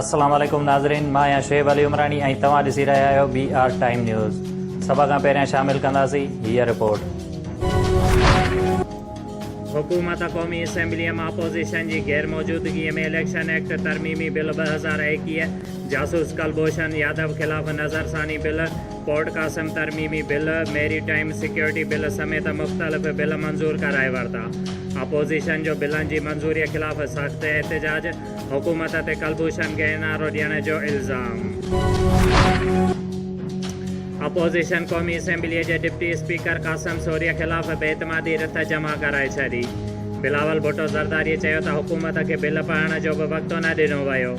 السلام عليڪم ناظرين مان آهيان شعيب علي عمراڻي ۽ توهان ڏسي رهيا آهيو بي آر ٽائيم نيوز سڀ کان پهريان شامل ڪنداسين هيء رپورٽ حڪومت قومي اسيمبليء مان اپوزيشن جي غير موجودگيء ۾ اليڪشن ايڪٽ ترميمي بل ٻه هزار ايڪيهه، جاسوس ڪلڀوشن يادو خلاف نظرثاني بل، ڪورٽ قاسم ترميمي bill, maritime security bill سميت مختلف بل منظور ڪرائي ورتا. اپوزيشن جو بلن جي منظوري خلاف سخت احتجاج، حڪومت تي ڪلڀوشن کي اين آر او ڏيڻ جو الزام. اپوزيشن قومي اسيمبليء جي ڊپٽي اسپيڪر قاسم سوريء خلاف بي اعتمادي رٿ جمع ڪرائي ڇڏي. بلاول ڀٽو زرداري چيو ته حڪومت کي بل پڙهڻ جو به وقت نه ڏنو ويو.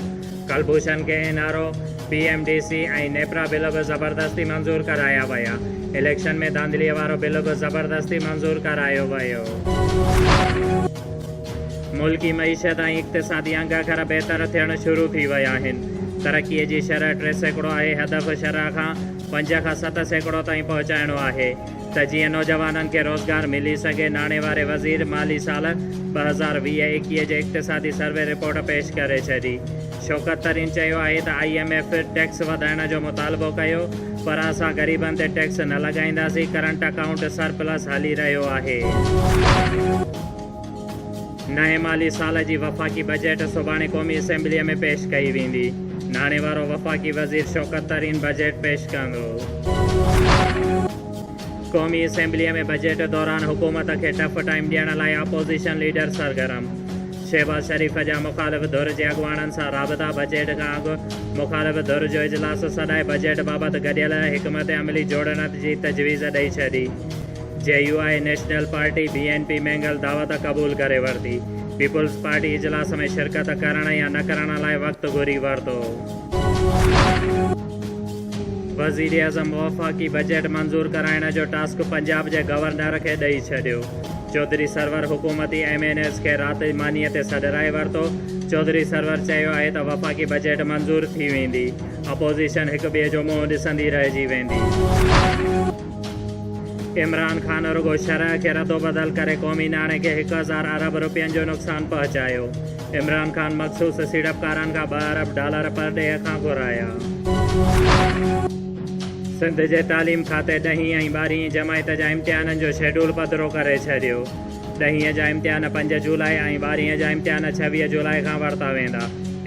ڪلڀوشن کي N R O, P M D C ۽ NEPRA bill به زبردستي منظور ڪرايا ويا. اليڪشن ۾ ڌانڌليء وارو بل به زبردستي منظور ڪرايو ويو. ملڪي معيشت ۽ اقتصادي انگ کر بهتر ٿيڻ شروع ٿي ويا آهن. ترقي جي شرح ٽي سيڪڙو آهي، هدف شرح کان پنج کان ست سيڪڙو تائين پهچائڻو آهي. ته جيئن نوجوانن کي روزگار ملي سگهي، ناڻي واري وزير مالي سال ٻه هزار ويهه ايڪيهه جي اقتصادي سروي رپورٽ پيش ڪري ڇڏي. شوڪت ترين چيو آهي ته آئي ايم ايف ٽيڪس وڌائڻ جو مطالبو ڪيو پر اسان غريبن تي ٽيڪس نه لڳائينداسين، ڪرنٽ اڪائونٽ سرپلس هلي رهيو آهي. نئين مالي سال جي وفاقي بجيٽ سڀاڻي قومي اسيمبليء ۾ پيش ڪئي ويندي، ناڻي وارو وفاقي وزير شوڪت ترين بجيٽ پيش ڪندو. قومي اسيمبليء ۾ بجيٽ دوران حڪومت کي ٽف ٽائيم ڏيڻ لاء اپوزيشن ليڊر سرگرم، شهباز شريف جا مخالف ڌر جي اڳواڻن سان رابطا، بجيٽ کان اڳ مخالف ڌر جو اجلاس سڏائي بجيٽ بابت گڏيل حڪمت عملي جوڙڻ جي تجويز ڏئي ڇڏي. J U I national party, B N P, Mengal دعوت قبول ڪري ورتي. پيپلز پارٽي اجلاس ۾ شرڪت ڪرڻ يا نه ڪرڻ لاء وقت گهري ورتو. وزيراعظم وفاقي بجيٽ منظور ڪرائڻ جو ٽاسڪ پنجاب جي گورنر کي ڏئي ڇڏيو. چوڌري سرور حڪومتي ايم اين ايز کي رات مانيء تي سڏرائي ورتو. چوڌري سرور چيو آهي ته وفاقي بجيٽ منظور ٿي ويندي. اپوزيشن هڪٻئي جو منهن ڏسندي رهجي ويندي. عمران خان رڳو شرح کي ردوبدل ڪري قومي ناڻي کي هڪ هزار ارب رپين جو نقصان پهچايو، عمران خان مخصوص سيڙپڪارن کان ٻه ارب ڊالر پرڏيهه کان گهرايا. سنڌ جي تعليم کاتي ڏهين ۽ ٻارهين جماعت جا امتحانن جو شيڊول پڌرو ڪري ڇڏيو، ڏهين جا امتحان پنج جولاء ۽ ٻارهين جا امتحان ڇويهه جولاء کان ورتا ويندا،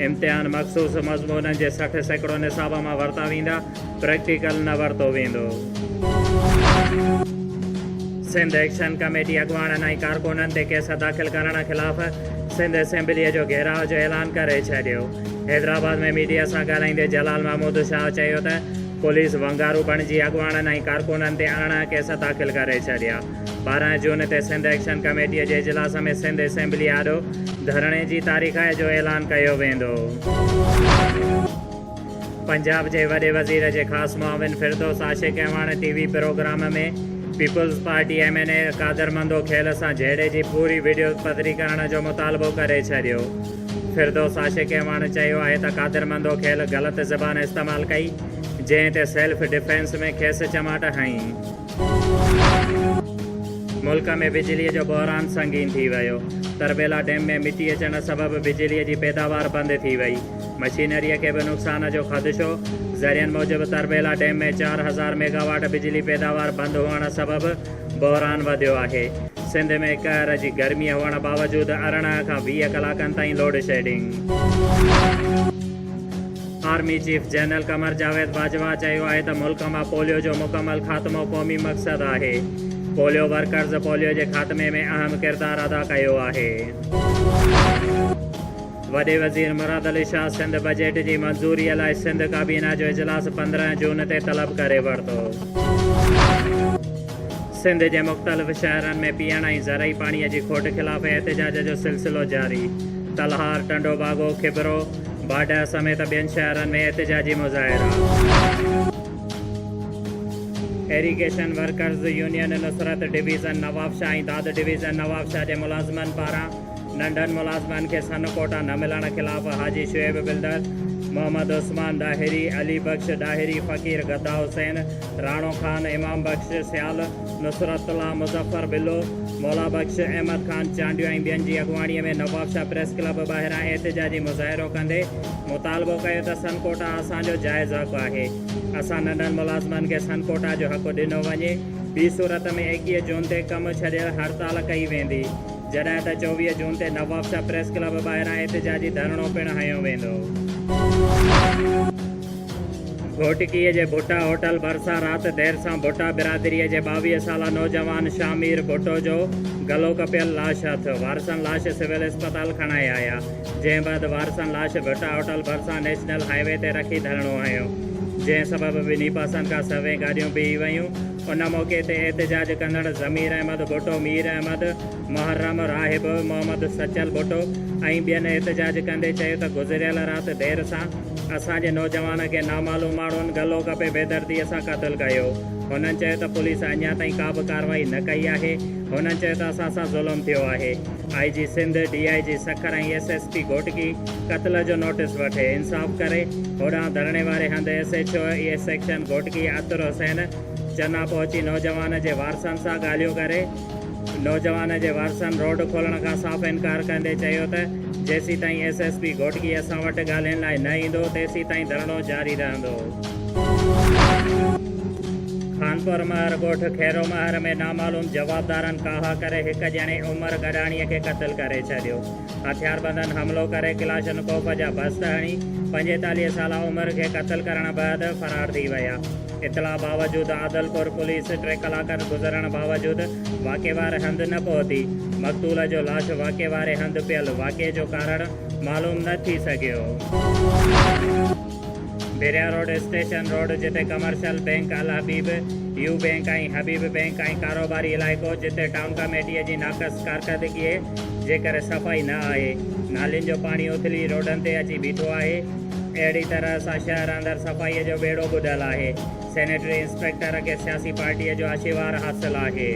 امتحان مخصوص مضمونن جي سٺ سيڪڙو نصاب مان ورتا ويندا، پريڪٽيڪل نه ورتو ويندو. سنڌ ايڪشن ڪميٽي اڳواڻن ۽ ڪارڪنن تي ڪيس داخل ڪرڻ خلاف سنڌ اسيمبليء جو گهيراء جو اعلان ڪري ڇڏيو. حيدرآباد ۾ ميڊيا سان ڳالهائيندي جلال محمود شاهه چيو ته پوليس ونگارو بڻجي اڳواڻن ۽ ڪارڪنن تي اڻاها ڪيس داخل ڪري ڇڏيا. ٻارهن جون تي سنڌ ايڪشن ڪميٽيء جي اجلاس ۾ سنڌ اسيمبليء آڏو ڌرڻي جي تاريخ جو اعلان ڪيو ويندو. پنجاب جي وڏي وزير جي خاص معاون Firdous Ashiq Awan T V programme ۾ peoples party M N A Qadir Mandokhel سان جهيڙي جي پوري وڊيو پڌري ڪرڻ جو مطالبو ڪري ڇڏيو فردوس عاشق اعواڻ چيو آهي ته قادر مندو کيل غلط زبان استعمال ڪئي جنهن تي سيلف ڊفينس ۾ کيس چماٽ هنئي. ملڪ ۾ بجلي جو بحران سنگين ٿي ويو، تربيلا ڊيم ۾ مٽي اچڻ سبب بجلي جي پيداوار بند ٿي وئي. مشينريء کي به نقصان جو خدشو، ذريعن موجب تربيلا ڊيم ۾ چار هزار ميگا واٽ بجلي پيداوار بند هئڻ سبب بحران وڌيو آهي، سنڌ ۾ قهر جي گرمي هئڻ باوجود ارڙهن کان ويهه ڪلاڪن تائين load shedding. Army chief general Qamar Javed Bajwa چيو آهي ته ملڪ مان پوليو جو مڪمل خاتمو قومي مقصد آهي، پوليو ورڪرز پوليو جي خاتمي ۾ اهم ڪردار ادا ڪيو آهي. وڏي وزير مراد علي شاهه سنڌ بجيٽ جي منظوري لاء سنڌ ڪابينا جو اجلاس پندرهن جون تي طلب ڪري ورتو. سنڌ جي مختلف شهرن ۾ پيئڻ ۽ زرعي پاڻي جي کوٽ خلاف احتجاج جو سلسلو جاري، تلهار، ٽنڊو باگو، کبرو، باڊهه سميت ٻين شهرن ۾ احتجاجي مظاهرا. Irrigation workers union Nusrat division Nawabshah ۽ Dad division Nawabshah جي ملازمن پاران ننڍن ملازمن کي سن ڪوٽا نه ملڻ خلاف حاجي شعيب بلدر، محمد عثمان ڏاهري، علي بخش ڏاهري، فقير گدا حسين، راڻو خان، امام بخش سيال، نصرت الله، مظفر بلو، مولا بخش، احمد خان چانڊيو ۽ ٻين جي اڳواڻي ۾ نوابشاهه پريس ڪلب ٻاهران احتجاجي مظاهرو ڪندي مطالبو ڪيو ته سن ڪوٽا اسان جو جائز حق آهي، اسان ننڍن ملازمن کي سن ڪوٽا جو حق ڏنو وڃي، ٻي صورت ۾ ايڪيهه جون تي ڪم ڇڏيل هڙتال ڪئي ويندي. جڏهن ته چوويهه جون تي نوابشاهه پريس ڪلب ٻاهران احتجاجي ڌرڻو پڻ هنيو ويندو. گهوٽڪيء جي ڀٽا هوٽل ڀرسان رات دير سان ڀٽا برادريء جي ٻاويهه سالا نوجوان شاهه مير ڀٽو جو گلو ڪپيل لاش هٿ، وارثن لاش سول اسپتال کڻائي آيا، جنهن بعد وارثن لاش ڀٽا هوٽل ڀرسان نيشنل هاء وي تي رکي ڌرڻو هنيو، جنهن سبب ٻنهي پاسن کان سوين گاڏيون بيهي ويون. ان موقعي تي احتجاج ڪندڙ ضمير احمد ڀٽو، مير احمد، محرم، راهب، محمد سچل ڀٽو ۽ ٻين احتجاج ڪندي چيو ته گذريل رات دير سان اسان جي نوجوان کي نامعلوم ماڻهن گلو ڪپي بيدردي سان قتل ڪيو. هنن چيو ته پوليس اڃا تائين ڪا به ڪارروائي نه ڪئي آهي. هنن چيو ته اسان سان ظلم ٿيو آهي. I G Sindh, D I G Sukkur ۽ S S P Ghotki, قتل جو نوٽيس وٺي انصاف ڪري هوڏانهن ڌرڻي واري هنڌ S H O A section Ghotki Atir Hussain Chana پهچي نوجوان جي وارثن سان ڳالهيون ڪري نوجوان جي وارثن روڊ کولڻ کان صاف انڪار ڪندي چيو ته جيسيتائين ايس ايس پي گهوٽڪي اسان وٽ ڳالهين لاء نه ايندو تيسيتائين ڌرڻو جاري رهندو. خانپور مهر ڳوٺ خيرو مهر ۾ نامعلوم جوابدارن ڪاهه ڪري هڪ ڄڻي عمر گڏاڻي کي قتل ڪري ڇڏيو. هٿياربندن حملو ڪري ڪلاشنڪوف جا بسٽ هڻي پنجيتاليهه سالا عمر کي قتل ڪرڻ بعد فرار ٿي ويا. اطلاع باوجود عادلپور پوليس ٽي ڪلاڪن گذرڻ باوجود واقعي واري هنڌ نه پهتي. مقتول جو لاش واقعي واري هنڌ پيل، واقعي جو ڪارڻ معلوم نه ٿي سگهيو. بحريا روڊ، اسٽيشن روڊ، جتي commercial bank Al Habib, U bank ۽ Habib bank ۽ ڪاروباري علائقو جتي ٽام ڪاميٽيء جي ناقص ڪارڪردگيء جي ڪري صفائي نه آهي، نالين جو پاڻي اٿلي روڊن تي اچي بيٺو آهي، اهڙي طرح سان شهر اندر صفائيء جو ٻيڙو ٻڏل آهي. سينيٽري انسپيڪٽر کي سياسي پارٽيء جو آشيوار حاصل آهي.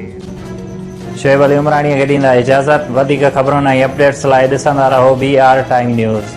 شعيب علي عمراڻيء کي ڏيندا اجازت. وڌيڪ خبرن ۽ اپڊيٽس لاء ڏسندا رهو بي آر ٽائيم نيوز.